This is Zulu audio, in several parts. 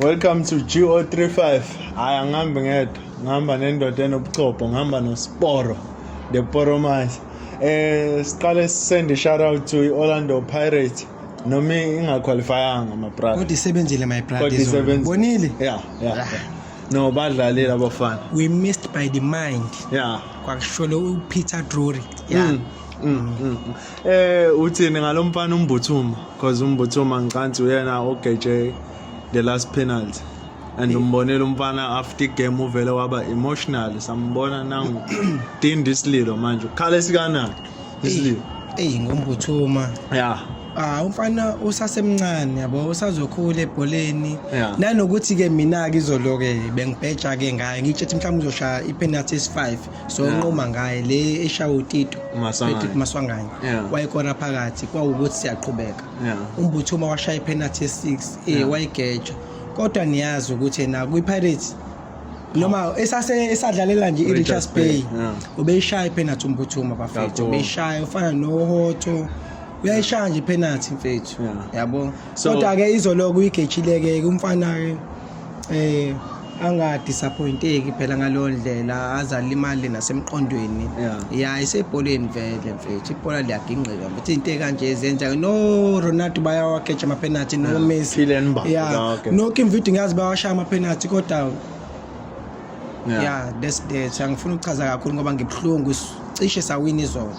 Welcome to GO35. Hayi angihambi ngedwa, ngihamba nendoda enobuchopho, ngihamba noSporo, the Poromise. Eh siqale sisende shout out to Orlando Pirates. Noma ingaqualifyanga my brother. Kodwa isebenzile my brother. Kodwa isebenzile. Bonile? Yeah, yeah. yeah. No badlalile abafana. We missed by the mind. Yeah. Kwakusholo uPeter Drury. Yeah. Mm. Mm, mm, mm. Eh uthini ngalomfana umbuthuma because umbuthuma ngicansi uyena ogeje the last penalty and umbonile umfana after game uvele waba emotional sambona nangu tindi isililo manje ukhala esikanani isililo eyi ngombuthuma ya ah umfana usasemncane yabo usazokhula ebholeni nanokuthi ke mina ke izolo ke bengibheja ke ngaye ngitshethi mhlawumbe uzoshaya ipenalty esi5 so nquma ngaye le eshawa utito maswanganye wayekona phakathi kwawukuthi siyaqhubeka umbuthuma washaya iphenathi ye-six e wayigeja kodwa niyazi ukuthi na kwi-pirates noma esadlalela nje i-richards bay ubeyishaya iphenathi umbuthuma bafethu ubeyishaya ufana nohoto uyayishaya nje iphenathi mfethu yabo kodwa-ke izoloko uyigejile-ke umfana-ke eh angadisappointeki phela ngaleyo ndlela azalimali nasemqondweni ya isebholeni vele mfethu ibhola liyagingqika mfethu into ekanje zenza no Ronaldo bayawakeja ama penalty no Messi ya no Kim Vidi ngazi bawashaya ama penalty kodwa ya that's that angifuni ukuchaza kakhulu ngoba ngibuhlungu cishe sawina izolo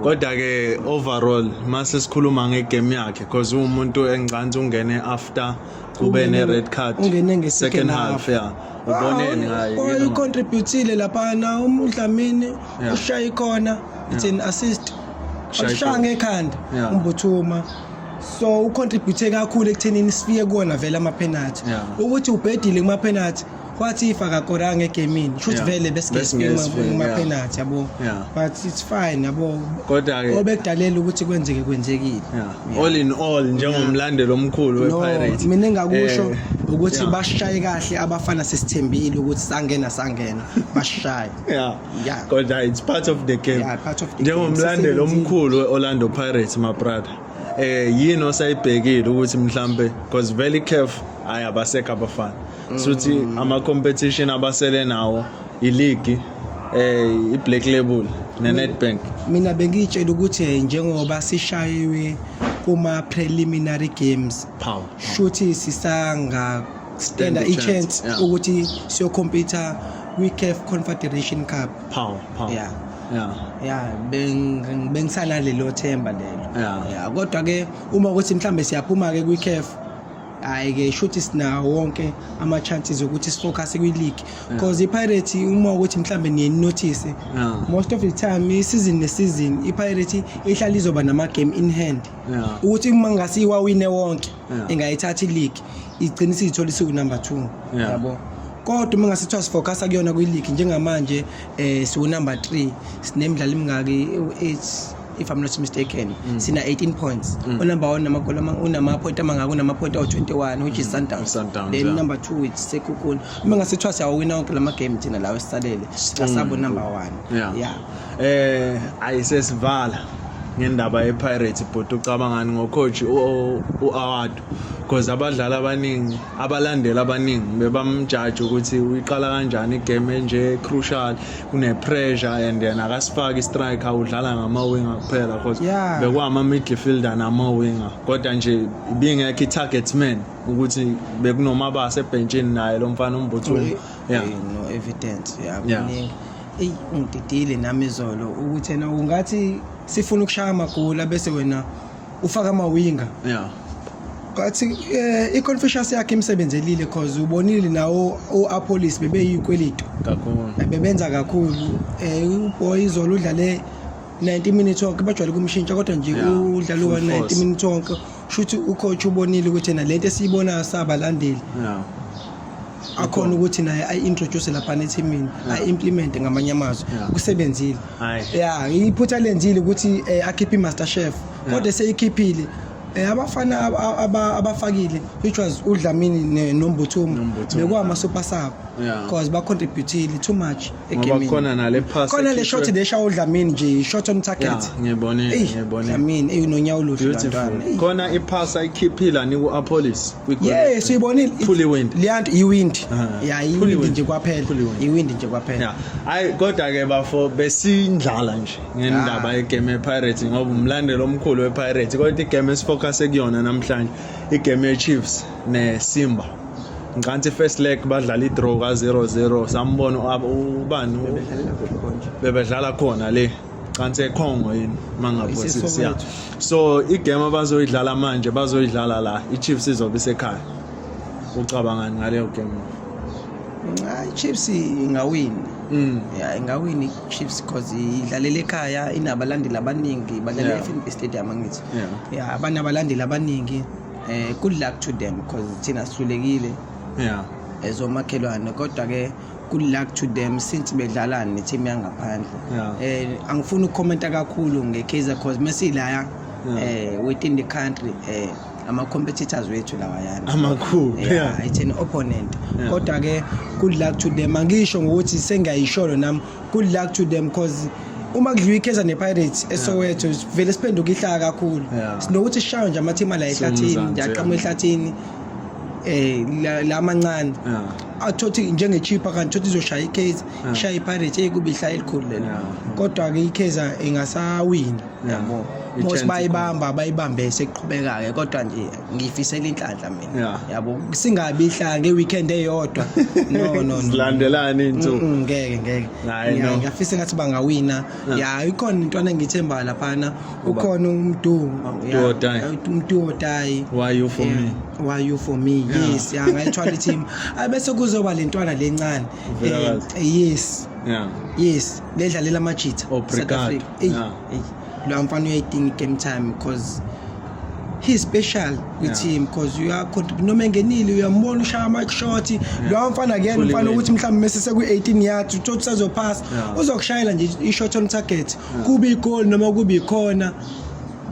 kodwa ke overall mase sikhuluma ngegame yakhe because uwumuntu engcansi ungene after kube ne red card ungene nge second half yeah uboneni ngaye oh, you contributile lapha na umdlamini ushaye ikhona it's an assist ushaya ngekhanda umbuthuma so ucontribute kakhulu ekuthenini sifike kuwona vele ama penalty ukuthi ubhedile kuma penalty kwathi ifa kakoranga egemini kusho ukuthi vele besingespemapenalty yabo but it's fine yabo kodwa-ke obekudalela ukuthi kwenzeke kwenzekile all in all njengomlandeli omkhulu wepirate mina engakusho eh, ukuthi bashaye kahle abafana sesithembile ukuthi sangena sangena bashaye yeah kodwa it's part of the game njengomlandeli omkhulu we-orlando pirates mabrother eh yini osayibhekile ukuthi mhlambe because vele icaf ayi abasekho abafana suthi ama-competition abasele nawo iligi eh i-black label ne-netbank mina bengiyitshela ukuthi eh, njengoba sishayiwe kuma-preliminary games Power. shuthi sisanga Stand standa a chance, i-chance yeah. ukuthi siyokhompyutha kwi-caf confederation cup Power, power. Yeah. Yeah. ya beng- bengisanalelo themba lelo Yeah. ya kodwa-ke uma ukuthi mhlawumbe siyaphuma-ke kwi-caf hayi ke shuthi sinawo wonke ama chances ukuthi sifocus kwi league because iPirates uma ukuthi mhlambe niye notice most of the time i season ne season iPirates ihlala izoba nama game in hand ukuthi uma ngasiwa wine wonke ingayithatha ileague igcina isithola isiwu number 2 yabo kodwa uma ngasithiwa sifocus kuyona kwi league njengamanje eh siwu number 3 sinemidlalo imingaki u8 if i'm not mistaken mm. sina 18 points mm. unumber one namagoli unamaphoyinti amangaka unamaphoyinti awu-21 which is mm. sundowns Sundowns, then yeah. number two it's sekhukhuni uma ngasithiwa siyawawina wonke la magame thina lawo esisalele asabo mm. number one yeah, yeah. eh ayisesivala ngendaba yepirates bhuti ucabangani ngocoach u-award because abadlali abaningi abalandeli abaningi bebamjaji ukuthi uyiqala kanjani igame enje crucial kune-pressure and yena akasifaki istriker udlala ngama-winger kuphela cause yeah. bekwama-midfielder nama-winger kodwa nje ibingekho i-target man ukuthi bekunomabasa ebhentshini naye lo mfana umbuthulu yeah. no evidence yeah, yeah. eyi ungididile nami izolo ukuthi yena ungathi sifuna ukushaya amagoli abese wena ufaka amawinga yeah but eh, i-confucius yakhe imsebenzelile cause ubonile nawo u-apolis bebeyikwelito kakhulu eh, bebenza kakhulu um uboy izolo udlale 90 minutes wonke bajwayele kumshintsha kodwa nje udlale wa 90 minutes wonke shuthi ucoach ubonile ukuthi na lento esiyibonayo sabalandeli akhona ukuthi naye ayi-introduce laphana ethimini ayi-implemente ngamanye amazwi kusebenzile ya iphutha lenzile ukuthi um eh, akhiphe i-master chef kodwa eseyikhiphile Eh, abafana abafakile which was udlamini nombuthumo bekuwama super sub because bacontributile too much ngoba khona nale pass khona le shot le shawo Dlamini nje shot on target ngiyibone ngiyibone Dlamini eyinonyawo oluhle bantwana khona i pass ayikhiphila ni ku Apolis yes uyibonile fully wind liyanto i wind ya i wind nje kwaphela i wind nje kwaphela hayi kodwa ke bafo besindlala nje ngendaba ye game Pirates ngoba umlandelo omkhulu we Pirates kodwa i game esifocus ekuyona namhlanje i game ye Chiefs ne Simba Ngicantsi first leg badlala i-draw ka-0-0 sambona ubani bebedlala khona le cansi ekhongo yini mangaphosisi ya so igame abazoyidlala manje bazoyidlala la i-chiefs izobe isekhaya ucabangani ngaleyo game i-chiefs ingawini mm. ya ingawini i-chiefs because idlalela ekhaya inabalandeli abaningi badlalela e-fnb stadium angithi ya banabalandeli abaningi eh good luck to them because thina sihlulekile yeah as omakhelwane kodwa ke good luck to them since bedlala ne team yangaphandle yeah. eh angifuni ukukhomenta kakhulu nge Kaizer because mesila yeah. eh within the country eh ama competitors wethu lawa yana amakhulu yeah, yeah. it's an opponent yeah. kodwa ke good luck to them angisho ngokuthi sengiyayisholo nami good luck to them cause uma kudliwa ikheza nepirates esowetho vele siphenduka ihlaka kakhulu Yeah. sinokuthi sishayo nje amathima la ehlathini Siwumzansi, ndiyaqama yeah. ehlathini um la la amancane Yeah. athothi njengechipha kanti thothi izoshaya ikheza Yeah. ishaya ipirates eyi kuba ihlaya elikhulu lelo Yeah. kodwa-ke ikheza ingasawini Yeah. yabo Ithemba mos bayibamba bayibambe sekuqhubeka-ke kodwa nje ngiyifisela inhlanhla mina yeah. yabo singabi ihlanga ngeweekend eyodwa no no no silandelani into ngeke ngeke ngiyafisa ngathi bangawina ya ikhona into anengithemba laphana ukhona umdu umdu odayi why you for me why you for me yes ya ngayithwala team abese kuzoba lentwana lencane eh, yes yeah yes ledlalela amajitha obrigado yeah Lo mfana uyayidinga i-game time because he's special with yeah. him because you are noma engenile uyambona ushaya ama-shot yeah. lowa mfana kuyena umfana ukuthi mhlawumbe mese seku-18 yards uthothu sazophasa yeah. uzokushayela nje i-shot on target yeah. kube igoli noma kube ikhona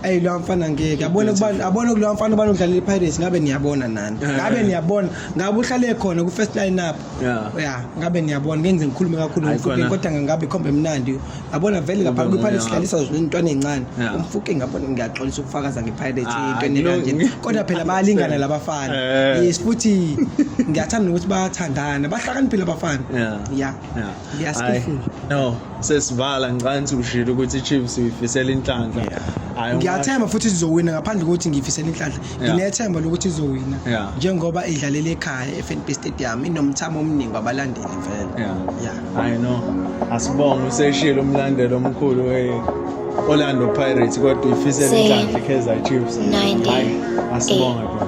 ayi lo mfana ngeke abone kubani abone kulo mfana ubani udlalela iPirates ngabe niyabona nani ngabe niyabona ngabe uhlale khona ku first line up Yeah. Yeah, ngabe niyabona ngenze ngikhulume kakhulu ngomfuke kodwa ngangabe khombe mnandi. Yabona vele lapha kwi Pirates sidlalisa izintwana ezincane. Umfuke ngabona ngiyaxolisa ukufakaza nge Pirates ah, into enekanje. Kodwa phela bayalingana labafana. Eh. Yes futhi ngiyathanda ukuthi bayathandana. Bahlakaniphile abafana. Yeah. Yeah. Ngiyaskifula. No, sesivala ngicanthi ushilo ukuthi iChiefs uyifisela inhlanhla. Hayi. Ngiyathemba futhi izowina ngaphandle kokuthi ngifisela inhlanhla. Nginethemba lokuthi izowina njengoba idlalela ekhaya eFNB Stadium inomthamo omningi wabalandeli vele. Yeah. Yeah. I know. Asibonge useshilo umlandelo omkhulu we Orlando Pirates kodwa uyifisela inhlanhla iKaizer Chiefs. Hayi, asibonge bro.